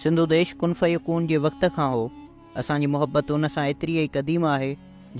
سنڌو ديش ڪن فيڪون جي وقت کان هو. اسان جي محبت ان سان ايتري ئي قديم آهي،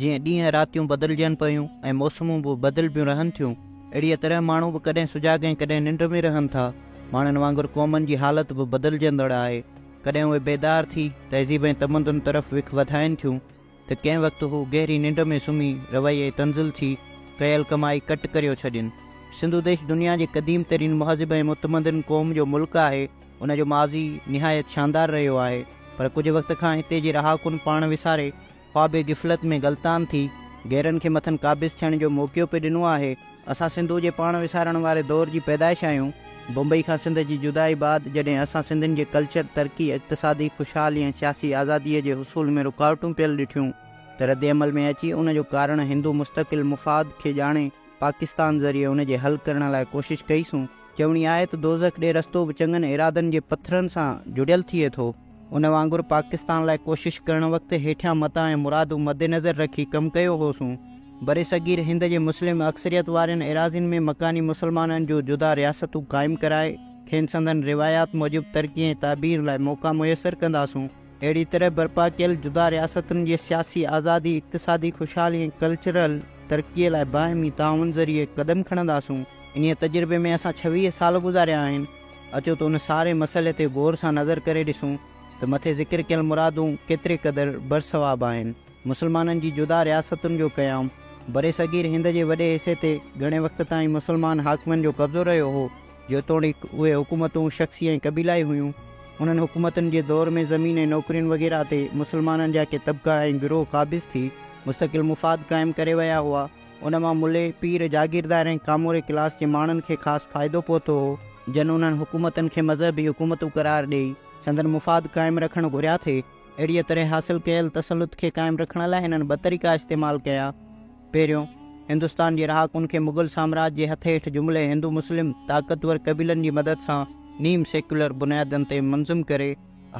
جيئن ڏينهن راتيون بدلجن پيون ۽ موسمون به بدلبيون رهن ٿيون، اهڙيء طرح ماڻهو به ڪڏهن سجاڳ ۽ ڪڏهن ننڊ ۾ رهن ٿا. ماڻهن وانگر قومن جي حالت به بدلجندڙ آهي. ڪڏهن اهي بيدار ٿي، تهذيب ۽ تمدن طرف وک وڌائين ٿيون. ته ڪنهن وقت هو گهري ننڊ ۾ سمهي رويي تنزل ٿي ڪيل ڪمائي ڪٽ ڪريو ڇڏين. سنڌو ديش دنيا جي قديم ترين مهذب ۽ متمدن قوم جو ملڪ آهي، ان جو ماضي نهايت شاندار رهيو آهي، پر ڪجهه وقت کان هتي جي رهاڪن پاڻ وساري خواب غفلت ۾ غلطان ٿي گهرن کي مٿن قابض ٿيڻ جو موقعو پي ڏنو آهي، اسان سنڌو جي پاڻ وسارڻ واري دور جي پيدائش آهيون. بمبئي کان سنڌ جي جدائي بعد جڏهن اسان سنڌين جي ڪلچر، ترقي، اقتصادي خوشحالي ۽ سياسي آزاديء جي حصول ۾ رڪاوٽون پيل ڏٺيون ته رد عمل ۾ اچي ان جو ڪارڻ هندو مستقل مفاد کي ڄاڻي پاڪستان ذريعي ان جي حل ڪرڻ لاء ڪوشش ڪئي سون. چوڻي آهي ته دوزخ ڏي رستو به چڱن ارادن جي پٿرن سان جڙيل ٿئي ٿو. ان وانگر پاڪستان لاء ڪوشش ڪرڻ وقت هيٺيان متا ۽ مرادون مدنظر رکي ڪم ڪيو هوسون. برصغير هند جي مسلم اڪثريت وارين ايراضين ۾ مڪاني مسلمانن جون جدا رياستون قائم ڪرائي، کين سندن روايات موجب ترقي ۽ تعبير لاء موقعا ميسر ڪنداسون. اهڙي طرح برپا ڪيل جدا رياستن جي سياسي آزادي، اقتصادي خوشحالي ۽ ڪلچرل ترقيء لاء باهمي تعاون ذريعي قدم کڻنداسون. انهيء تجربي ۾ اسان ڇويهه سال گذاريا آهن. اچو ته ان ساري مسئلي تي غور سان نظر ڪري ڏسون ته مٿي ذڪر ڪيل مرادون ڪيتري قدر برصواب آهن. مسلمانن جي جدا رياستن جو قيام، برصغير هند جي وڏي حصي تي گهڻي وقت تائين مسلمان حاڪمن جو قبضو رهيو هو، جيتوڻيڪ اهي حڪومتون شخصي ۽ قبيلائي هيون. انهن حڪومتن جي دور ۾ زمين ۽ نوڪرين وغيره تي مسلمانن جا ڪي طبقا ۽ گروهه قابض ٿي مستقل مفاد قائم ڪري ويا هئا. ان مان ملي، پير، جاگيردار ۽ ڪاموري ڪلاس جي ماڻهن کي خاص فائدو پهتو هو، جن انهن حڪومتن کي مذهبي حڪومتون قرار ڏيئي، سندن مفاد قائم رکڻ گهريا ٿي، اهڙيء طرح حاصل ڪيل تسلط کي قائم رکڻ لاء هنن ٻه طريقا استعمال ڪيا، پهريون، هندستان جي رهاڪن کي مغل سامراج جي هٿ هيٺ جملي هندو مسلم طاقتور قبيلن جي مدد سان نيم سيڪيولر بنيادن تي منظم ڪري،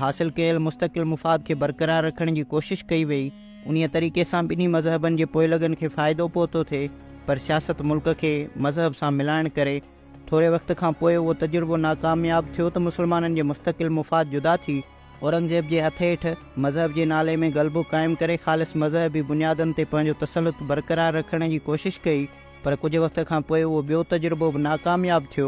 حاصل ڪيل مستقل مفاد کي برقرار رکڻ جي ڪوشش ڪئي وئي، انهيء طريقي سان ٻنهي مذهبن جي پوئلڳن کي فائدو پهتو ٿي، پر سياست ملڪ کي مذهب سان ملائڻ ڪري ٿوري وقت کان پوء اهو تجربو ناڪامياب ٿيو ته مسلمانن جي مستقل مفاد جدا ٿي، اورنگزيب جي هٿ هيٺ مذهب جي نالي ۾ غلبو قائم ڪري خالص مذهبي بنيادن تي پنهنجو تسلط برقرار رکڻ جي ڪوشش ڪئي. پر ڪجهه وقت کان پوء اهو ٻيو تجربو به ناڪامياب ٿيو.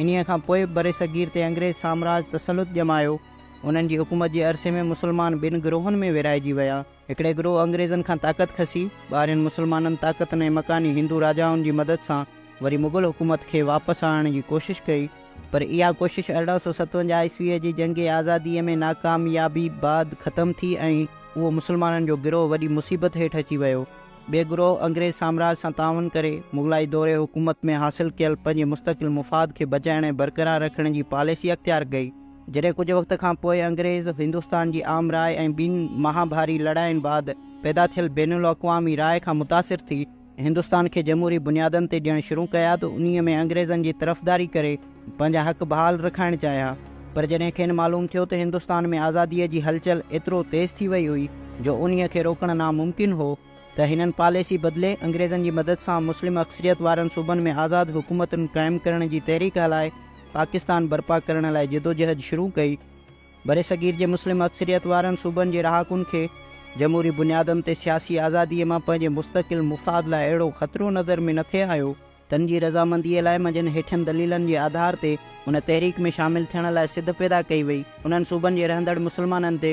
انهيء کان پوء به برصغير تي انگريز سامراج تسلط ڄمايو. انهن جي حڪومت جي عرصي ۾ مسلمان ٻن گروهن ۾ ورهائجي ويا. هڪڙي گروهه انگريزن کان طاقت کسي، ٻاهرين مسلمانن طاقتن ۽ مڪاني هندو راجائن جي مدد سان وري مغل حڪومت کي واپس آڻڻ جي ڪوشش ڪئي، پر اها ڪوشش ارڙهن سؤ ستونجاهه عيسويء جي جنگ آزاديء ۾ ناڪاميابي بعد ختم ٿي ۽ اهو مسلمانن جو گروهه وڏي مصيبت هيٺ اچي ويو. ٻئي گروهه انگريز سامراج سان تعاون ڪري مغلائي دور حڪومت ۾ حاصل ڪيل پنهنجي مستقل مفاد کي بچائڻ ۽ برقرار رکڻ جي پاليسي اختيار ڪئي. جڏهن ڪجهه وقت کان پوء انگريز هندستان جي عام راء ۽ ٻن مهاڀاري لڙاين بعد پيدا ٿيل بين الاقوامي راء کان متاثر ٿي هندستان کي جمهوري بنيادن تي ڏيڻ شروع ڪيا ته انهيء ۾ انگريزن جي طرفداري ڪري پنهنجا حق بحال رکائڻ چاهيا پر جڏهن کين معلوم ٿيو ته هندستان ۾ آزاديء جي هلچل ايترو تيز ٿي وئي هئي جو انهيء کي روڪڻ ناممڪن هو ته هنن پاليسي بدلي انگريزن جي مدد سان مسلم اڪثريت وارن صوبن ۾ آزاد حڪومتن قائم ڪرڻ جي تحريڪ هلائي پاڪستان برپا ڪرڻ لاء جدوجهد شروع ڪئي. برصغير جي مسلم اڪثريت وارن صوبن جي رهاڪن کي جمهوري بنيادن تي سياسي آزاديء مان پنهنجي مستقل مفاد لاء اهڙو خطرو نظر ۾ نٿي آيو. تن جي رضامنديء لاء منجهن هيٺين دليلن جي آڌار تي ان تحريڪ ۾ شامل ٿيڻ لاء سڌ پيدا ڪئي وئي. انهن صوبن جي رهندڙ مسلمانن تي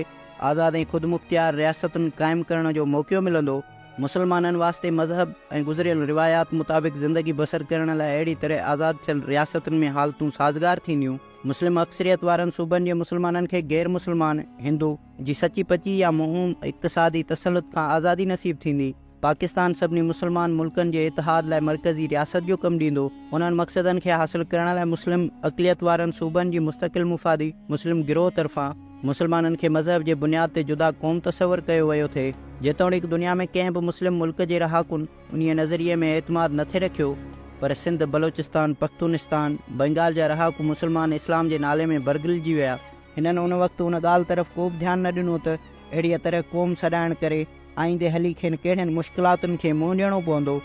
آزاد ۽ خودمختيار رياستن قائم ڪرڻ جو موقعو ملندو. مسلمانن واسطي مذهب ۽ گذريل روايات مطابق زندگي بسر ڪرڻ لاء اهڙي طرح آزاد ٿيل رياستن ۾ حالتون سازگار ٿينديون. مسلم اڪثريت وارن صوبن جي مسلمانن کي غير مسلمان، هندو، جي سچي پچي يا موهوم اقتصادي تسلط کان آزادي نصيب ٿيندي. پاڪستان سڀني مسلمان ملڪن جي اتحاد لاء مرڪزي رياست جو ڪم ڏيندو، انهن مقصدن کي حاصل ڪرڻ لاء مسلم اقليت وارن صوبن جي مستقل مفادي، مسلم گروهه طرفان مسلمانن کي مذهب جي بنياد تي جدا قوم تصور ڪيو ويو ٿي، جيتوڻيڪ دنيا ۾ ڪنهن به مسلم ملڪ جي رهاڪن انهيء نظريي ۾ اعتماد نه ٿي رکيو، پر سنڌ، بلوچستان، پختونستان، بنگال جا رهاڪو مسلمان اسلام جي نالي ۾ برگلجي ويا. هنن ان وقت ان ڳالهه طرف ڪوبه ڌيان نه ڏنو ته اهڙيء طرح قوم سڏائڻ ڪري، آئيندي هلي کين ڪهڙين مشڪلاتن کي منهن ڏيڻو پوندو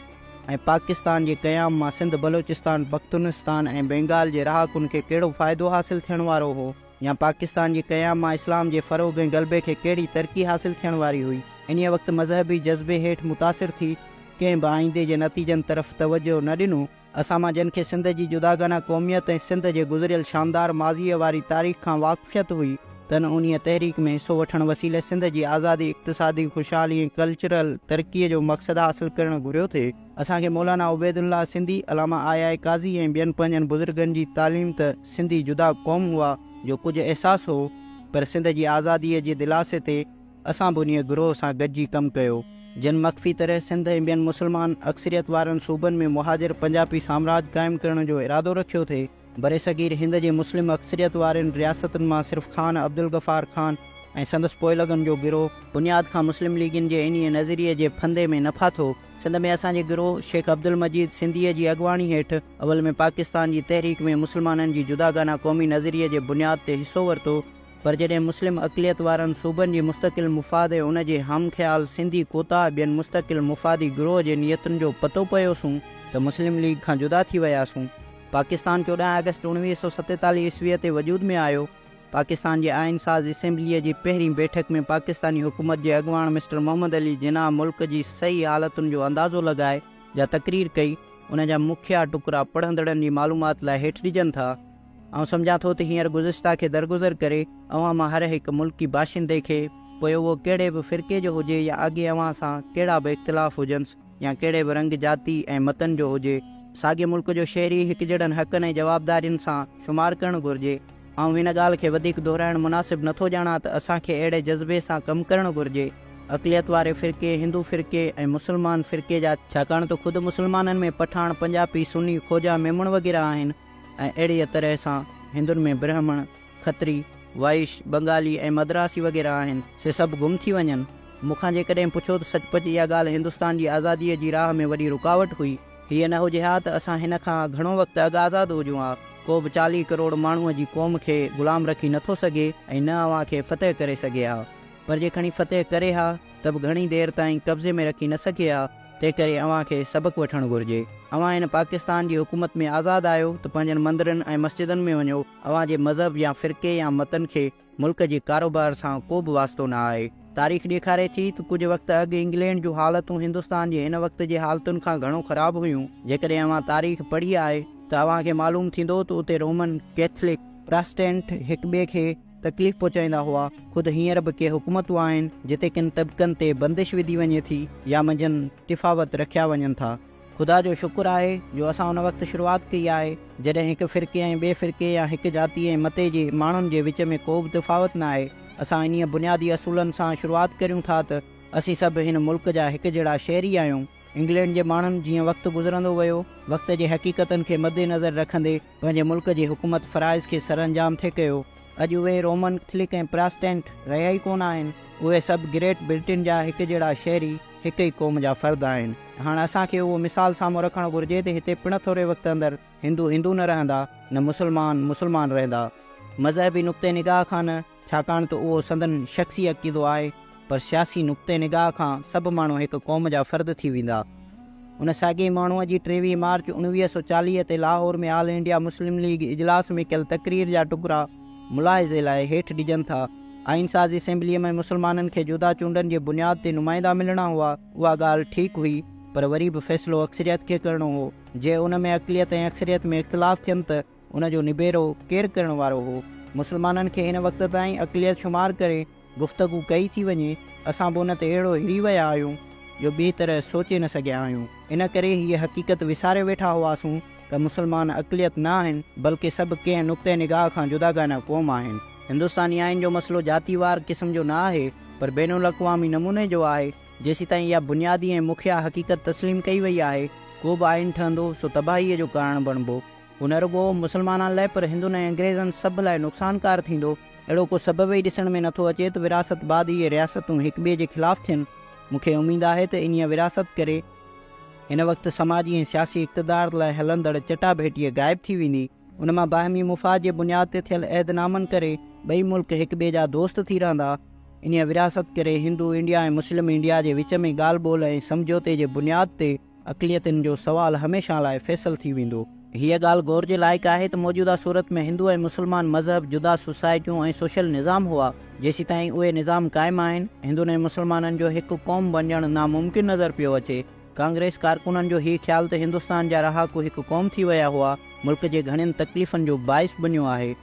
۽ پاڪستان جي قيام مان سنڌ، بلوچستان، پختونستان ۽ بينگال جي رهاڪن کي ڪهڙو فائدو حاصل ٿيڻ وارو هو يا پاڪستان جي قيام مان اسلام جي فروغ ۽ غلبي کي ڪهڙي ترقي حاصل ٿيڻ واري هئي. انهيء وقت مذهبي جذبي هيٺ متاثر ٿي ڪنهن به آئيندي جي نتيجن طرف توجهه نه ڏنو، اسان مان جن کي سنڌ جي جداگانه قوميت ۽ سنڌ جي گذريل شاندار ماضيء واري تاريخ کان واقفيت هئي، تن انهيء تحريڪ ۾ حصو وٺڻ وسيلي سنڌ جي آزادي، اقتصادي خوشحالي ۽ ڪلچرل ترقيء جو مقصد حاصل ڪرڻ گهريو ٿي. اسان کي مولانا عبيدالله سنڌي، علامه آء آء قاضي ۽ ٻين پنهنجن بزرگن جي تعليم ته سنڌي جدا قوم هئا جو ڪجهه احساس هو، پر سنڌ جي آزاديء جي دلاسي تي، اسان به انهيء گروهه سان گڏجي ڪم ڪيو، جن مخفي طرح سنڌ ۽ ٻين مسلمان اڪثريت وارن صوبن ۾ مهاجر پنجاپي سامراج قائم ڪرڻ جو ارادو رکيو ٿي. برصغير هند جي مسلم اڪثريت وارين رياستن مان صرف خان عبدالغفار خان ۽ سندس پوئلڳن جو گروهه، بنياد کان مسلم ليگين جي انهيء نظريي جي ڦندي ۾ نه ڦاٿو. سنڌ ۾ اسان جي گروهه شيخ عبدالمجيد سنڌيء جي اڳواڻي هيٺ اول ۾ پاڪستان جي تحريڪ ۾ مسلمانن جي جداگانه قومي نظريي جي بنياد تي حصو ورتو، پر جڏهن مسلم اقليت وارن صوبن جي مستقل مفاد ۽ ان جي هم خيال سنڌي ڪوتاهه ٻين مستقل مفادي گروهه جي نيتن جو پتو پيوسون ته مسلم ليگ کان جدا ٿي وياسون. پاڪستان چوڏهن آگسٽ اڻويهه سؤ ستيتاليهه عيسويء تي وجود ۾ آيو. پاڪستان جي آئين ساز اسيمبليء جي پهرين بيٺڪ ۾ پاڪستاني حڪومت جي اڳواڻ مسٽر محمد علي جناح ملڪ جي صحيح حالتن جو اندازو لڳائي جا تقرير ڪئي، ان جا مکيه ٽڪرا پڙهندڙن جي معلومات لاء هيٺ ڏجن ٿا. آئون سمجهان ٿو ته هينئر گذشته کي درگذر ڪري اوهان مان هر هڪ ملڪي باشندي کي، پوء اهو ڪهڙي به فرقي جو هجي يا اڳي اوهان سان ڪهڙا به اختلاف هجنس يا ڪهڙي به رنگ، جاتي ۽ متن جو هجي، ساڳئي ملڪ جو شهري هڪجهڙن حقن ۽ جوابدارين سان شمار ڪرڻ گهرجي. آئون هن ڳالهه کي وڌيڪ دهرائڻ مناسب نه ٿو ڄاڻان ته اسان کي اهڙي جذبي سان ڪم ڪرڻ گهرجي، اقليت واري فرقي، هندو فرقي ۽ مسلمان فرقي جا، ڇاڪاڻ ته خود مسلمانن ۾ پٺاڻ، پنجاپي، سني، خوجا، ميمڻ وغيره آهن، ۽ اهڙيء طرح سان هندن ۾ برهمڻ، کتري، وائش، بنگالي ۽ مدراسي وغيره آهن، سي سڀ گم ٿي وڃن. مون کان جيڪڏهن پڇو ته سچ پچ اها ڳالهه هندستان جي آزاديء جي راهه ۾ وڏي رڪاوٽ هئي. هيء نه هجي ها ته اسان هن کان گهڻو وقت اڳ آزاد هجون ها. ڪو به چاليهه ڪروڙ ماڻهوء جي قوم کي غلام رکي نه ٿو سگهي ۽ نه اوهان کي فتح ڪري سگهي ها. پر جي کڻي فتح ڪري ها ته به گهڻي دير تائين قبضي ۾ رکي نه سگهي ها. تنهنڪري اوهان کي سبق وٺڻ گهرجي. اوهان هن پاڪستان جي حڪومت ۾ آزاد آهيو ته پنهنجن مندرن ۽ مسجدن ۾ وڃو، اوهان جي مذهب يا فرقي يا متن کي ملڪ جي ڪاروبار سان ڪو به واسطو نه آهي. تاريخ ڏيکاري ٿي ته ڪجهه وقت اڳ انگلينڊ جون حالتون هندستان جي هن وقت جي حالتن کان گهڻو خراب هيون. جيڪڏهن اوهان تاريخ پڙهي آهي ته اوهان کي معلوم ٿيندو ته اتي رومن، ڪيٿلڪ، پراسٽينٽ هڪ ٻئي کي. تڪليف پهچائيندا هئا، خود هينئر به ڪي حڪومتون آهن جتي ڪن طبقن تي بندش وڌي وڃي ٿي يا منجهن تفاوت رکيا وڃن ٿا. خدا جو شڪر آهي جو اسان ان وقت شروعات ڪئي آهي جڏهن هڪ فرقي ۽ ٻئي فرقي يا هڪ جاتي ۽ متي جي ماڻهن جي وچ ۾ ڪوبه تفاوت نه آهي، اسان انهيء بنيادي اصولن سان شروعات ڪريون ٿا ته اسين سڀ هن ملڪ جا هڪ جهڙا شهري آهيون، انگلينڊ جي ماڻهن جيئن وقت گذرندو ويو وقت جي حقيقتن کي مدنظر رکندي، پنهنجي ملڪ جي حڪومت فرائض کي سرانجام ٿي ڪيو. اڄ اهي رومن ڪئٿلڪ ۽ پراسٽينٽ رهيا ئي ڪونه آهن. اهي سڀ گريٽ برٽين جا هڪ جهڙا شهري، هڪ ئي قوم جا فرد آهن. هاڻ اسان کي اهو مثال سامهون رکڻ گهرجي ته هتي پڻ ٿوري وقت اندر هندو هندو نه رهندا، نه مسلمان مسلمان رهندا. مذهبي نقطه نگاهه کان نه. ڇاڪاڻ ته اهو سندن شخصي عقيدو آهي، پر سياسي نقطه نگاهه کان سڀ ماڻهو هڪ قوم جا فرد ٿي ويندا. ان ساڳئي ماڻهوء جي ٽيويهه مارچ اڻويهه سؤ چاليهه تي Lahore ۾ all India Muslim league اجلاس ۾ ڪيل تقرير جا ٽڪرا ملاحظي لاء هيٺ ڏجن ٿا، آئين ساز اسيمبليء ۾ مسلمانن کي جودا چونڊن جي بنياد تي نمائندا ملڻا هئا، اها ڳالهه ٺيڪ هئي، پر وري به فيصلو اڪثريت کي ڪرڻو هو، جي ان ۾ اقليت ۽ اڪثريت ۾ اختلاف ٿين ته. ان جو نبيرو ڪير ڪرڻ وارو هو؟ مسلمانن کي هن وقت تائين اقليت شمار ڪري گفتگو ڪئي ٿي وڃي، اسان به ان تي اهڙو هري ويا آهيون جو ٻي طرح سوچي نه سگهيا آهيون. ان ڪري هيء حقيقت وساري ويٺا هئاسون ته مسلمان اقليت نه آهن، بلڪه سڀ ڪنهن نقطه نگاهه کان جداگانه قوم آهن. هندستاني آئين جو مسئلو جاتي وار قسم جو نه آهي، پر بين الاقوامي نموني جو آهي. جيسيتائين اها بنيادي ۽ مکيه حقيقت تسليم ڪئي وئي آهي، ڪو به آئين ٺهندو سو تباهيء جو ڪارڻ بڻبو. هو نه رڳو مسلمانان لاء پر هندن ۽ انگريزن سڀ لاء نقصانڪار ٿيندو. اهڙو ڪو سبب ئي ڏسڻ ۾ نٿو اچي ته ورهاست بعد اهي رياستون هڪ ٻئي جي خلاف ٿين. مون کي اميد آهي ته انهيء ورهاست ڪري هن وقت سماجي ۽ سياسي اقتدار لاء هلندڙ چٽاڀيٽيء غائب ٿي ويندي. ان مان باهمي مفاد جي بنياد تي ٿيل عهد نامن ڪري ٻئي ملڪ هڪ ٻئي جا دوست ٿي رهندا. انهيء ورهاست ڪري هندو انڊيا ۽ مسلم انڊيا جي وچ ۾ ڳالهه ٻولهه ۽ سمجهوتي جي بنياد تي، اقليتن جو سوال هميشه لاء فيصل ٿي ويندو. هيء ڳالهه غور جي لائق آهي ته موجوده صورت ۾ هندو ۽ مسلمان مذهب جدا سوسائٽيون ۽ سوشل نظام هئا، جيسيتائين اهي نظام قائم آهن، هندن ۽ مسلمانن جو هڪ قوم بنجڻ ناممڪن نظر پيو اچي. ڪانگريس ڪارڪنن جو هي خيال ته هندستان جا رهاڪو هڪ قوم ٿي ويا هئا، ملڪ جي گهڻين تڪليفن جو باعث بنيو آهي.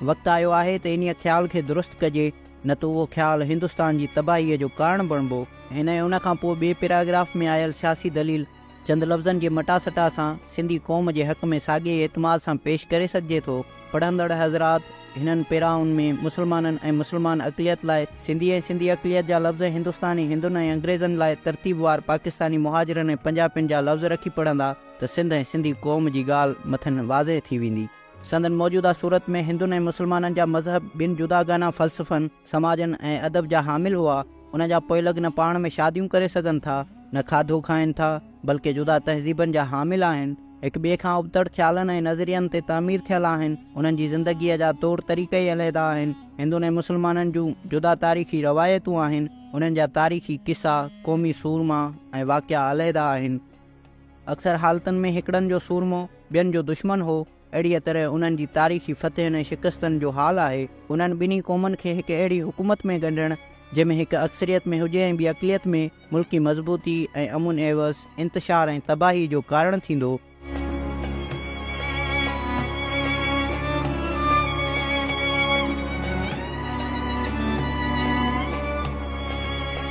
وقت آيو آهي ته انهيء خيال کي درست ڪجي. نه ته اهو خيال هندستان جي تباهيء جو ڪارڻ بڻبو. هن ۽ ان کان پوء ٻئي پيراگراف ۾ آيل سياسي دليل چند لفظن جي مٽا سٽا سان سنڌي قوم جي حق ۾ ساڳئي ئي اعتماد سان پيش ڪري سگهجي ٿو. پڙهندڙ حضرات! هنن پيرائن ۾ مسلمانن ۽ مسلمان اقليت لاء سنڌي ۽ سنڌي اقليت جا لفظ هندستاني هندن ۽ انگريزن لاء ترتيب وار پاڪستاني مهاجرن ۽ پنجاپين جا لفظ رکي پڙهندا ته سنڌ ۽ سنڌي قوم جي ڳالهه مٿن واضح ٿي ويندي. سندن موجوده صورت ۾ هندن ۽ مسلمانن جا مذهب ٻن جداگانه فلسفن، سماجن ۽ ادب جا حامل هئا. انهن جا پوئلڳ نه پاڻ ۾ شاديون ڪري سگهن ٿا، نه کاڌو کائين ٿا، بلڪه جدا تهذيبن جا حامل آهن، هڪ ٻئي کان ابتڙ خيالن ۽ نظرين تي تعمير ٿيل آهن، انهن جي زندگيء جا طور طريقه ئي علحده آهن. هندن ۽ مسلمانن جون جدا تاريخي روايتون آهن، انهن جا تاريخي قصا، قومي سورما ۽ واقعا علحده آهن. اڪثر حالتن ۾ هڪڙن جو سورمو ٻين جو دشمن هو، اهڙيء طرح انهن جي تاريخي فتحن ۽ شڪستن جو حال آهي. انهن ٻنهي قومن کي هڪ اهڙي حڪومت ۾ ڳنڍڻ، جنهن ۾ هڪ اڪثريت ۾ هجي ۽ ٻي اقليت ۾، ملڪي مضبوطي ۽ امن عيوض انتشار ۽ تباهي جو ڪارڻ ٿيندو.